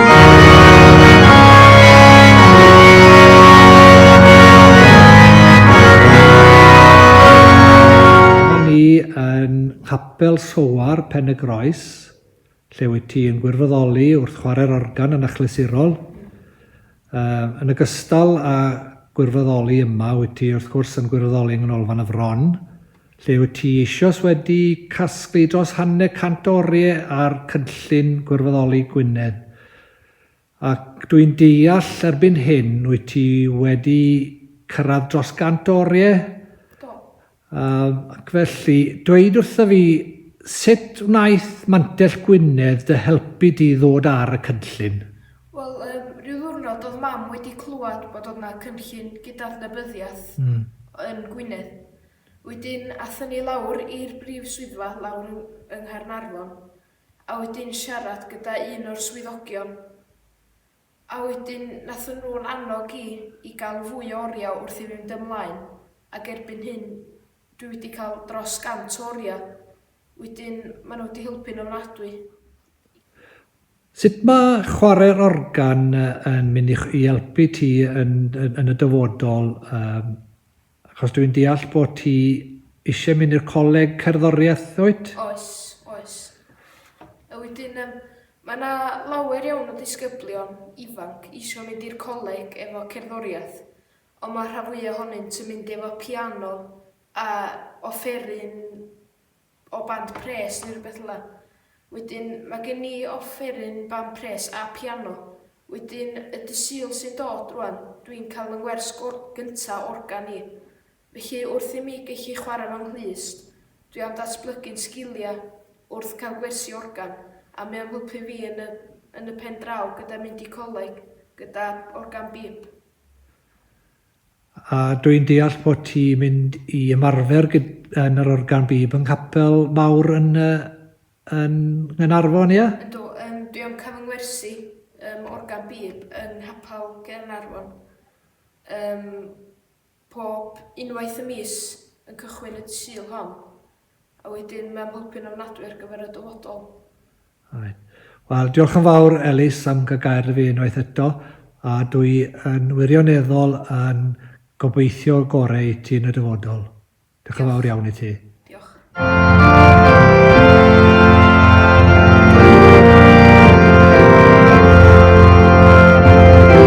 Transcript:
Dyma ni yn Nghapel Soar, Pen-y-groes, lle wyt ti yn gwirfoddoli wrth chwarae'r organ yn achlysurol. Yy, yn ogystal â gwirfoddoli yma, wyt ti wrth gwrs yn gwirfoddoli yng Nghanolfan y Fron, Lle wyt ti eisoes wedi casglu dros hanner cant o oriau ar Cynllun Gwirfoddoli Gwynedd, ac dwi'n deall erbyn hyn wyt ti wedi cyrraedd dros gant o oriau? Do. Yym, ac felly, dweud wrtho fi, sut wnaeth Mantell Gwynedd dy helpu di ddod ar y cynllun? Wel, yym, ryw ddiwrnod oedd Mam wedi clywed bod oedd 'na cynllun gydadnabyddiaeth yn Gwynedd. Wedyn athon ni lawr i'r brif swyddfa lawr yng Nghaernarfon, a wedyn siarad gyda un o'r swyddogion, a wedyn nathon nhw'n annog i i gael fwy o oriau wrth i fi fynd ymlaen, ac erbyn hyn dwi wedi cael dros 100 o oriau, wedyn maen nhw wedi helpu'n ofnadwy. Sut mae chwarae'r organ yn mynd i i helpu ti yn yn yn y dyfodol yym Achos dwi'n deall bod ti eisiau mynd i'r coleg cerddoriaeth, wyt? Oes, oes. A wedyn yym mae 'na lawer iawn o ddisgyblion ifanc eisiau mynd i'r coleg efo cerddoriaeth, ond mae'r rhan fwyaf ohonynt yn mynd efo piano a offeryn o band pres neu rywbeth fela. Wedyn ma' gen i offeryn band pres a piano. Wedyn y dy Sul sy'n dod rwan, dwi'n cael fy ngwers gor- gynta organ i. Felly wrth i mi gellu chwarae fy nghlust, dwi am datblygu'n sgilia wrth cael gwersi organ, a mae o'n helpu fi yn y yn y pen draw gyda mynd i coleg gyda organ bîp. A dw i'n deall bod ti mynd i ymarfer gyd- yn yr organ bib yng nghapel mawr yn yy yn Nghaernarfon, ie? Yndw, yym dwi am cyfyngwersi ym organ bib yn nghapel Gaernarfon yym pob unwaith y mis yn cychwyn y Sul hon. A wedyn mae o'n helpu'n ofnadwy ar gyfer y dyfodol. Reit. Wel, diolch yn fawr Elis am gael gair â fi unwaith eto, a dwi yn wirioneddol yn gobeithio gorau i ti yn y dyfodol. Diolch yn fawr iawn i ti. Diolch.